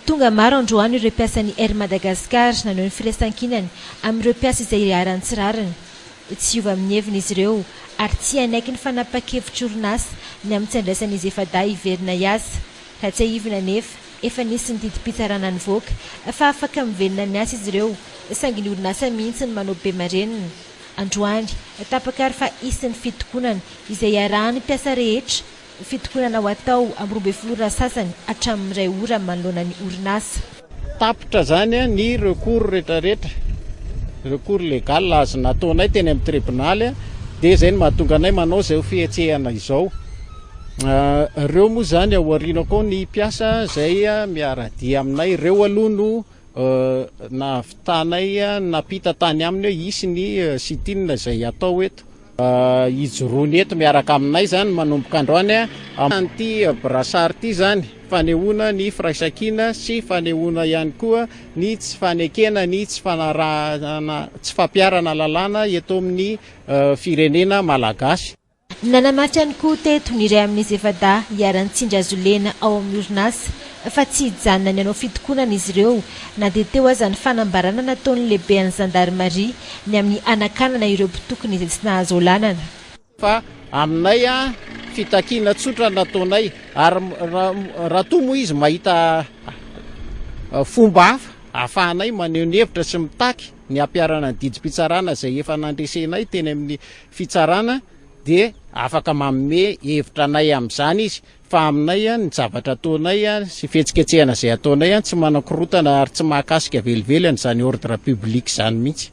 Tonga maro androany ireo mpiasan'ny Air Madagascar naneho ny firaisankinany amin'ireo mpiasa izay iharan'ny tsy rariny. Tsy hiova amin'ny heviny izy ireo ary tsy hanaiky ny fanapahan-kevitr'orinasa ny amin'ny tsy handraisan'izy efa-dahy hiverina hiasa. Raha tsiahivina anefa, Efa nisy ny didim-pitsarana nivoaka fa afaka mivelona ny asa izy ireo, saingy ny orinasa mihitsy no manao be marenina. Androany, tapaka ary fa hisy ny fitokonana izay hiarahan'ny mpiasa rehetra, fitokonana ho atao amin'ny roa ambin'ny folo ora sasany hatramin'ny iray ora manoloana ny orinasa. Tapitra izany ny recours rehetrarehetra, recours legal azo nataonay teny amin'ny tribonaly, dia izay no mahatonga anay manao izao fihetsehana izao. Reo moa zany ao aoriana koa ny mpiasa zay miaradia aminay reo aloha no nahavitanay napita tany aminy hoe hisy ny sitin zay atao eto hijoroany eto miaraka aminay zany manomboka androany amin'ity brasar ity zany fanehoana ny firaisankina sy fanehoana ihany koa ny tsy fanekena ny tsy fanarahana tsy fampiarana lalàna eto amin'ny firenena malagasy Nanamafy ihany koa teto ny iray amin'izy efa-dahy iharan-tsindry azo lena ao amin'ny orinasa fa tsy hijanona ny hanao fitokonana izy ireo na dia teo aza ny fanambarana nataon'ny lehiben'ny zandarimaria ny amin'ny hanakanana ireo mpitokona izay tsy nahazo aolanana. Fa aminay fitakiana tsotra nataonay ary raha toa moa izy mahita fomba hafa ahafahanay maneho ny hevitra sy mitaky ny hampiharana ny didim-pitsarana izay efa nandresenay teny amin'ny fitsarana dia afaka manome hevitra anay amin'izany izy fa aminay ny zavatra ataonay sy fihetsiketsehana izay ataonay tsy manan-korotana ary tsy mahakasika velively an'izany ordre public izany mihitsy.